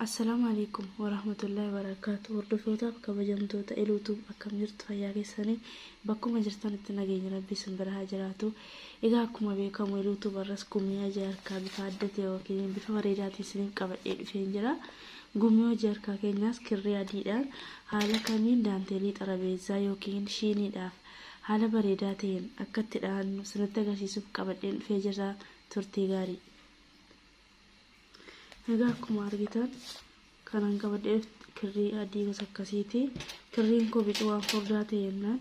Assalaamu alaikum warahmatullahi wabarakatuh. Hordofootaaf kabajamtoota Eluutuub akkam jirtu fayyaa keessanii bakkuma jirtanitti nageenya rabbii isin bira haa jiraatu. Egaa akkuma beekamu YouTube irras gumii hojii harkaa bifa adda ta'e yookiin bifa bareedaatiin isiniif qabadhee dhufeen jira. Gumii hojii harkaa keenyaas kirrii adiidhaan haala kamiin daanteelii xarabeezzaa yookiin shiiniidhaaf haala bareedaa ta'een akka itti dhahannu isinitti agarsiisuuf qabadheen dhufee jira turtii gaarii. Egaa akkuma argitan kanan qabadheef kirrii adii gosa akkasiiti. Kirriin koo bicuu waan furdaa ta'e jennaan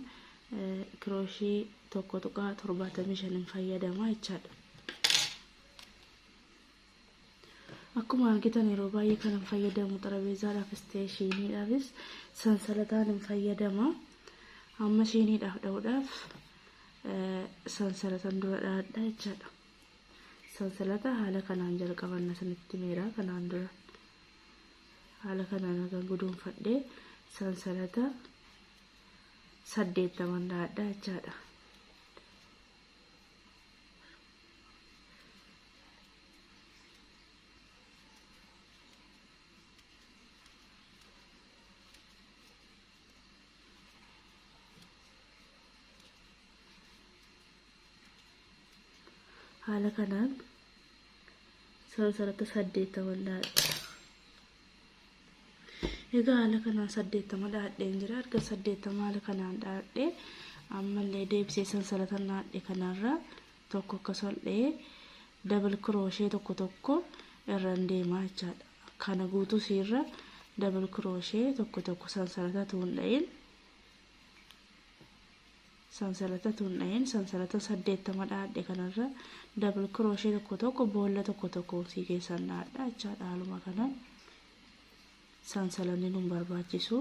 kirooshii tokko tuqaa torbaatamii shanin fayyadama jechaadha. Akkuma argitan yeroo baay'ee kanan fayyadamu xarabeezaadhaaf isteeshiiniidhaafis sansalataan hin fayyadama. Amma shiiniidhaaf dha'uudhaaf sansalatan dura dha'adha jechaadha. Sansalata haala kanaan jalqabanna isinitti himeera kanaan dura. Haala kanaan hagan guduunfadhe sansalata saddeettaman dhahadha jechaadha. haala kanaan sara saratti saddeettama dhaadhe egaa haala kanaan saddeettama dhaadheen jira erga saddeettama haala kanaan dhaadhe ammallee deebisee sansalata dhaadhe kanarra tokko akka sol'ee dabal kirooshee tokko tokko irraan deemaa jechaadha kana guutuu siirra dabal kirooshee tokko tokko sansalata tuun dha'in sansalata tun dhahin sansalata 80 dhaadhe kanarra double crochet tokko tokko boolla tokko tokkoon sii keessan dhaadha jechaa dhaaluma kanan sansalanni nun barbaachisu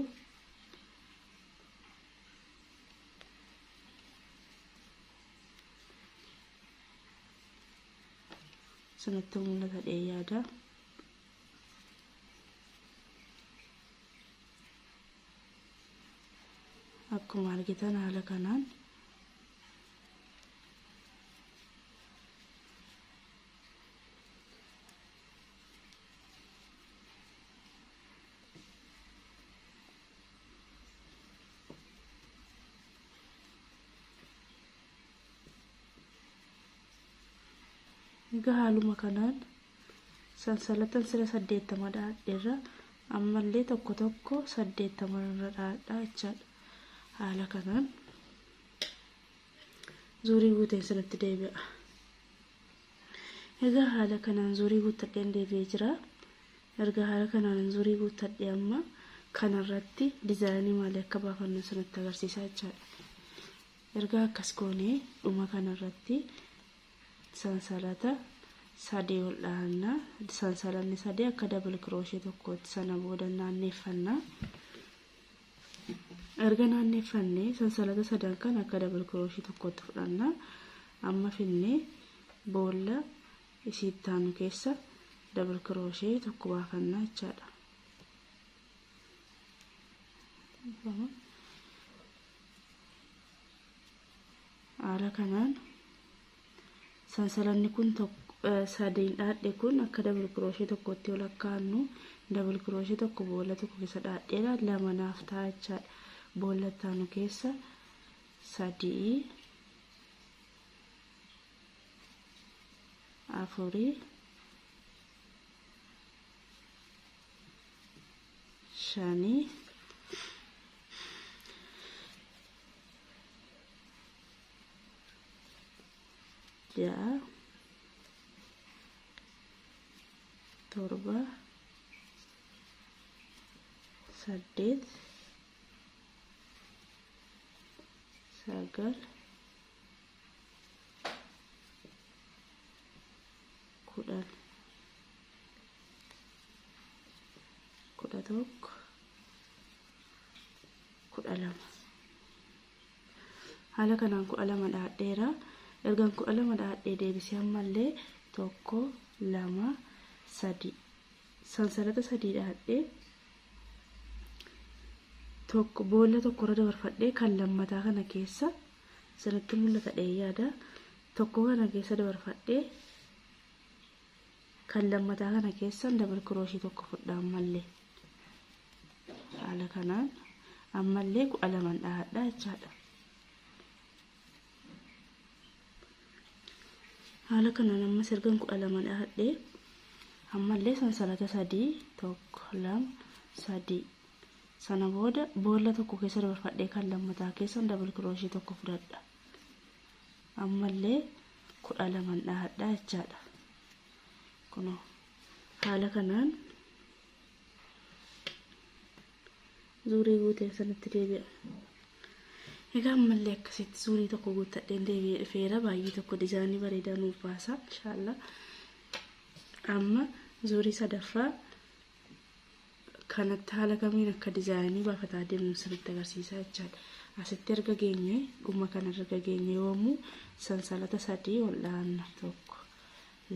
sanatti mul'ata dhee yaada akkuma argitan haala kanaan egaa haaluma kanaan sansalatan sila saddeettama dhaadherra ammallee tokko tokko saddeettama irra dhaadhaa jechaadha haala kanaan zuurii guuteen isinitti deebi'a egaa haala kanaan zuurii guuttadheen deebi'ee jira erga haala kanaan zuurii guuttadhe amma kanarratti dizaayinii maalii akka baafannu isinitti agarsiisaa jechaadha erga akkas goonee dhuma kanarratti sansalata sadii ol dhahanna sansalanni sadii akka dabal kirooshee tokkootti sana booda naanneeffanna erga naanneeffanne sansalata sadan kan akka dabal kirooshee tokkootti fudhanna amma finne boolla isiittaanu keessa dabal kirooshee tokko baafanna jechaadha Haala kanaan sansalanni kun sadeen dhaadhe kun akka dabal kirooshee tokkotti yoo lakkaa'annu dabal kirooshee tokko boolla tokko keessa dhaadheera lama naaf ta'a jechaadha. Boolla ittaanu keessa sadii afurii shanii ja'a torba saddeet sagal kudhan kudha tokko kudha lama haala kanaan kudha lama dhaadheera ergan kudha lama dhaadhee deebisee ammallee tokko lama sadii sansalata sadii dhaadhee tokko boolla tokkorra dabarfadhee kan lammataa kana keessa sanitti mul'ata dhee yaada tokko kana keessa dabarfadhee Kan lammataa kana keessan dabal kirooshii tokko fudhaa ammallee haala kanaan ammallee kudha laman dhahadhaa jechaadha. Haala kanaan ammas ergan kudha lama dhahadhee ammallee sansalata sadii tokko lama sadii sana booda boolla tokko keessa dabarfadhee kan lammataa keessan dabal kirooshii tokko fudhadha. ammallee kudha laman dhahadhaa jechaadha kuno haala kanaan zuurii guuteen sanitti deebi'a egaa ammallee akkasitti zuurii tokko guuttadheen deebi'ee dhufeera baay'ee tokko dizaanii bareedaa nuuf baasa inshaallah amma zuurii sadaffaa kanatti haala kamiin akka dizaayinii baafataa deemnu sirriitti agarsiisaa jechaadha. Asitti erga geenye dhuma kana erga geenye yoomuu sansalata sadii ol dhaanna tokko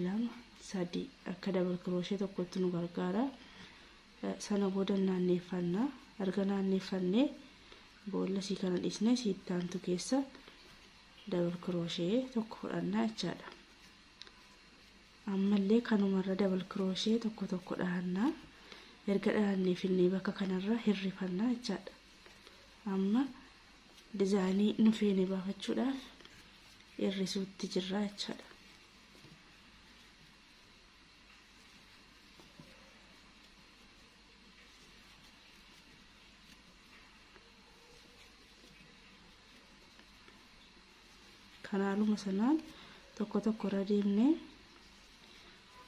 lama sadii akka dabal kirooshee tokkotti nu gargaara. Sana booda naanneeffanna erga naanneeffannee boolla sii kana dhiisnee siitti aantu keessa dabal kirooshee tokko fudhannaa jechaadha. Ammallee kanumarra double crochet tokko tokko dhahanna. Erga dhahannee finnee bakka kanarra hirrifanna jechaadha. Amma dizaayinii nu feene baafachuudhaaf hirrisuutti jirra jechaadha. Kanaaluma sanaan tokko tokko irra deemne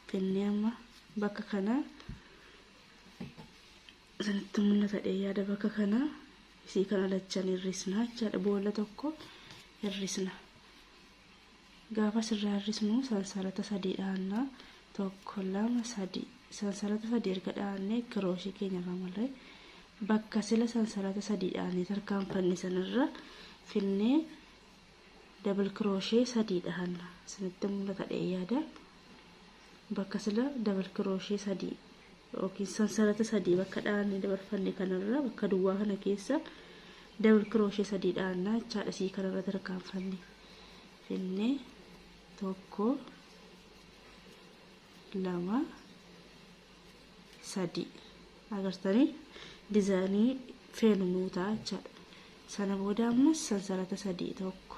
finnee amma bakka kana isinitti mul'ata dheeyyaada bakka kana isii kana lachan hir'isna jechaadha boolla tokko hir'isna. Gaafa sirraa hir'isnu sansalata sadii dhaanna tokko lama sadii sansalata sadii erga dhaannee kirooshii keenya irraa malee Bakka sila sansalata sadiidhaan tarkaanfanne sanarra finnee double crochet sadii dhahanna. Isinitti mul'ata dhee yaada. Bakka sila double crochet sadii yookiin sansalata sadii bakka dhahanne dabarfanne kanarra bakka duwwaa kana keessa double crochet sadii dhahanna jechaadha. Sii kanarra tarkaanfanne finnee tokko lama sadii agartanii dizaayinii feenu nuu ta'a jechaadha. Sana booda ammas sansalata sadii tokko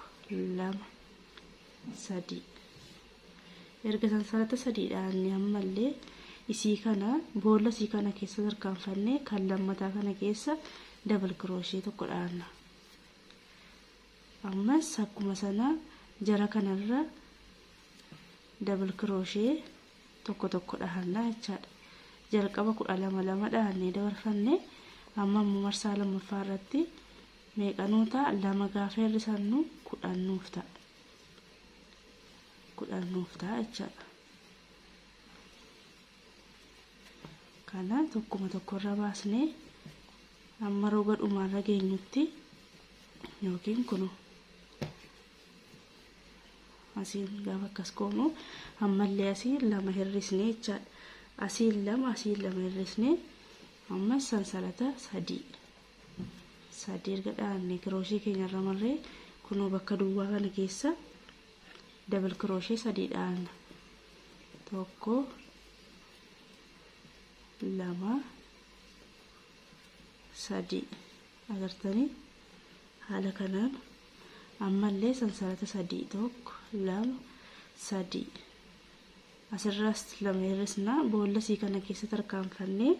lama sadii erga sansalata sadii dhaanne ammallee isii kana boolla isii kana keessa tarkaanfannee kan lammataa kana keessa dabal kirooshee tokko dhaanna. Ammas akkuma sana jara kanarra dabal kirooshee tokko tokko dhahannaa jechaadha. Jalqaba kudha lama lama dhahannee dabarfanne amma immoo marsaa lammaffaa irratti meeqanuu ta'a lama gaafa hir'isannu kudhan nuuf ta'a. Kudhan nuuf ta'a jechaadha. Kana tokkuma tokkorra baasnee amma roga dhumaarra geenyutti yookiin kunoo asiin gaafa akkas goomu ammallee asiin lama hir'isnee jechaadha asiin lama asiin lama hir'isnee ammas sansalata sadii sadii erga dhaabne kirooshii keenya irra marree kunoo bakka duwwaa kana keessa dabal kirooshii sadii dhaabna tokko lama sadii Agartanii? Haala kanaan, ammallee sansalata sadii, 1, 2, 3. Asirraas lama hir'isna, boolla isii kana keessa tarkaanfannee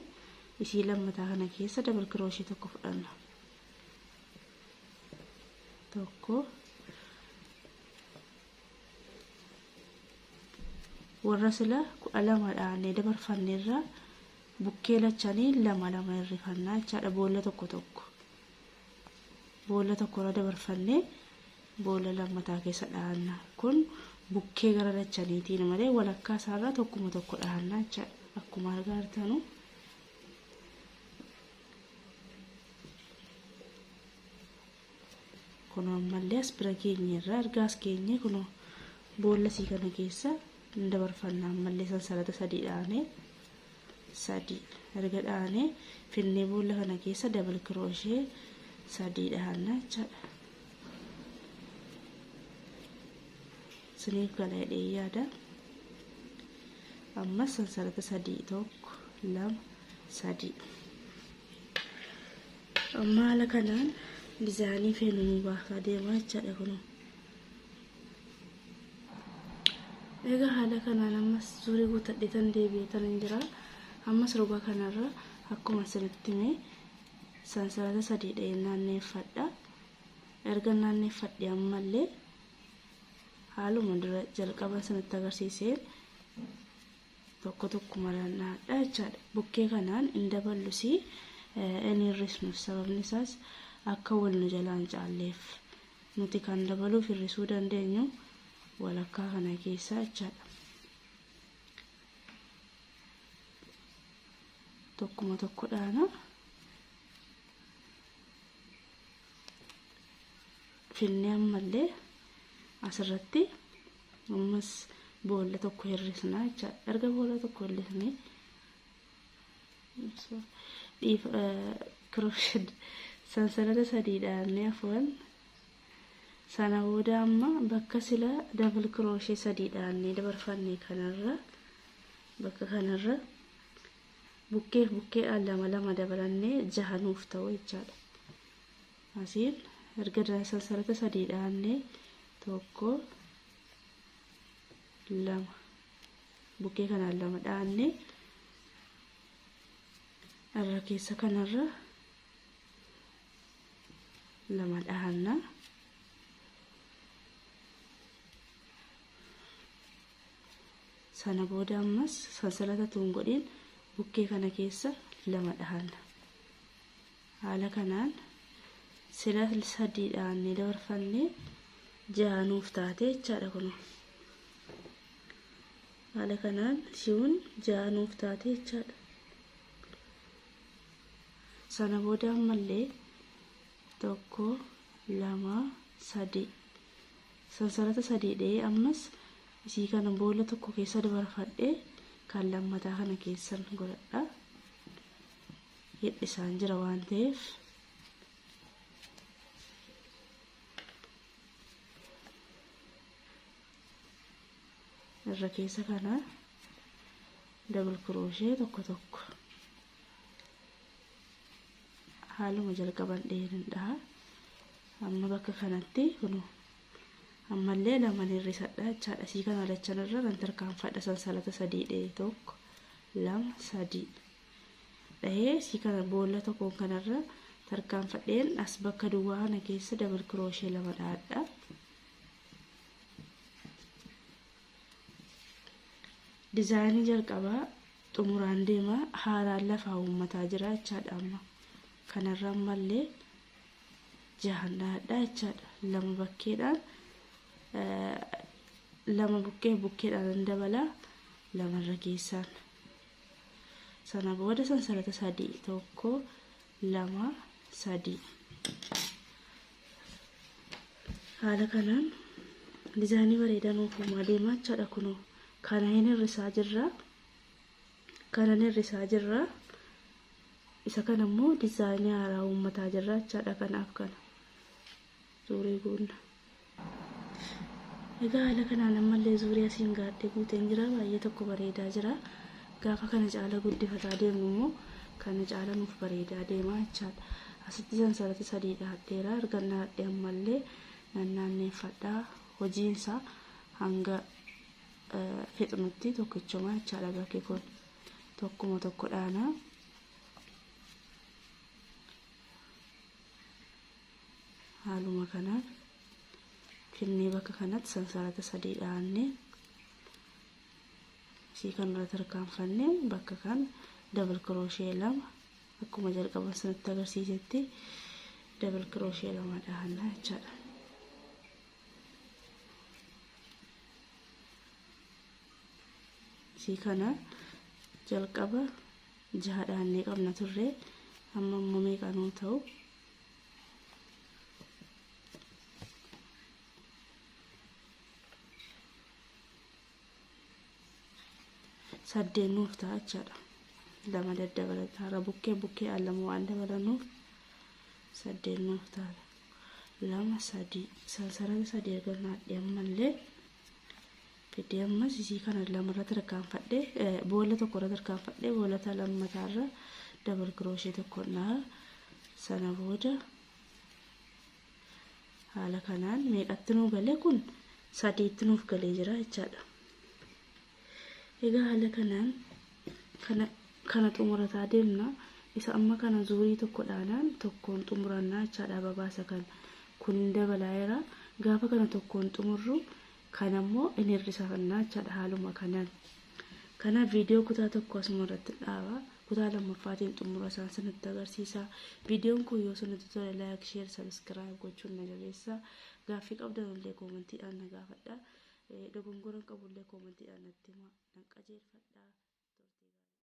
isii lammataa kana keessa double crochet tokko fudhanna. Tokko. Warra sila kudha lama dhaannee dabarfanne irraa bukkee lachanii lama lama hirrifannaa jechaadha boolla tokko tokko boolla tokko irra dabarfannee boolla lammataa keessa dhahanna kun bukkee gara lachaniitiin malee walakkaa isaarraa tokkuma tokko dhahanna jechaadha akkuma argaa jirtanu Kunoo ammallee as bira geenyeerra. Erga as geenyee kunoo boolla sii kana keessa hin dabarfanna ammallee sansalata sadii dhaanee sadii erga dhaanee finnee boolla kana keessa dabal kirooshee sadii dhaanna jechaadha. Isiniif gala jedhee yaada. Ammas sansalata sadii tokko lama sadii. Amma haala kanaan dizaayinii feenu nu baasaa deema jechaadha kunoo. Egaa haala kanaan ammas zurii guutadhee tan deebi'ee tan hin jira. Ammas roga kanarra akkuma isinitti hime sansalata sadii dha'ee naanneeffadha. Erga naanneeffadhe ammallee haaluma dura jalqaba isinitti agarsiiseen tokko tokkumadhaan dhahadha jechaadha. Bukkee kanaan hin daballusi hin hir'isnus sababni isaas akka wal nu jalaa hin caalleef. Nuti kan dabaluuf hir'isuu dandeenyu walakkaa kana keessaa jechaadha. Tokkuma tokko dhaana. Finnee ammallee asirratti Ammas boolla tokko hir'isnaa jechaadha. Erga boolla tokko hir'isnee dhiif kirooshed sansalata sadii dhaabnee afwan sana booda amma bakka sila dabal kirooshee sadii dhaabnee dabarfanne kanarra bakka kanarra bukkeef bukkeedhaan lama lama dabalannee jaha nuuf ta'u jechaadha. Asiin erga sansalata sadii dhaabne tokko lama bukkee kanaan lama dhaabne irra keessa kanarra lama dhaabna. sana booda ammas sansalata tuun godhiin bukkee kana keessa lama dhaabna. Haala kanaan sila sadiidhaan ni dabarfanne jaha nuuf taate jechaadha kunoo. Haala kanaan shiwun jaha nuuf taate jechaadha. Sana booda ammallee tokko lama sadii sansarata sadii dha'ee ammas isii kana boolla tokko keessa dabarfadhee kan lammataa kana keessan godhadha. hidhisaan jira waan ta'eef irra keessa kana dabal kirooshee tokko tokko haaluma jalqaban dheerin dhaha amma bakka kanatti kunu ammallee laman hir'isadha jechaadha sii kana lachan irra nan tarkaanfadha sansalata sadii dhee tokko lama sadii dhahee si kana boolla tokkoon kanarra tarkaanfadheen as bakka duwwaa kana keessa dabal kirooshee lama dhahadha. Dizaayinii jalqabaa xumuraan deema haaraan lafaa uummataa jira jechaadha amma kanarra ammallee jahan dhahadha jechaadha lama bakkeedhaan lama bukkee bukkeedhaan dabala lamarra keessaan Sana booda sansalata sadii tokko lama sadii haala kanaan dizaayinii bareedaa nuuf uumaa deemaa jechaadha kunoo kana hin hir'isaa jirra kana hin hir'isaa jirra isa kana immoo dizaayinii haaraa uummataa jirra jechaadha kanaaf kana. Zuuree goonna. Egaa haala kanaan ammallee zuuree asiin gaadhee guuteen jira. Baay'ee tokko bareedaa jira. Gaafa kana caala guddifataa deemnu immoo kana caala nuuf bareedaa deema jechaadha. Asitti sansarati sadii dhaadheera. Ergan dhaadhee ammallee nan naanneeffadha. Hojiinsaa hanga fixnutti tokkichuma jechaadha bakki kun. Tokkuma tokko dhaana. haaluma kanaan finnee bakka kanatti sansarata sadii dhaannee isii kanarra tarkaanfannee bakka kan dabal kirooshee lama akkuma jalqaban sanatti agarsiisetti dabal kirooshee lama dhaannaa jechaadha. Isii kana jalqaba jaha dhaannee qabna turre amma immoo meeqa nuu ta'u saddeet nuuf ta'a jechaadha lama daddabalata irra bukkee bukkee al lama waan dabalanuuf saddeet nuuf ta'a lama sadii sansalata sadii erga naadhee ammallee fidee ammas isii kana lamarra tarkaanfadhe boolla tokkorra tarkaanfadhe boolata lammataarra dabal kirooshee tokko naa sana booda haala kanaan meeqatti nuu galee kun sadiitti nuuf galee jira jechaadha. Egaa haala kanaan kana kana xumurataa deemna isa amma kana zuurii tokko dhaanaan tokkoon xumurannaa jechaadha babaasa kana kun hin dabalaa'eera gaafa kana tokkoon xumurru Kana immoo in hir'isafanna jechaadha haaluma kanaan. Kanaaf viidiyoo kutaa tokko asuma irratti dhaaba. Kutaa lammaffaatiin xumura isaan isinitti agarsiisa. Viidiyoon kun yoo isinitti tole laayik, sheer, sabiskiraayib gochuun na jabeessa. Gaaffii qabdan illee koomantiidhaan na gaafadha. Dogongora hin qabu illee koomantiidhaan natti himaa nan qajeelfadha.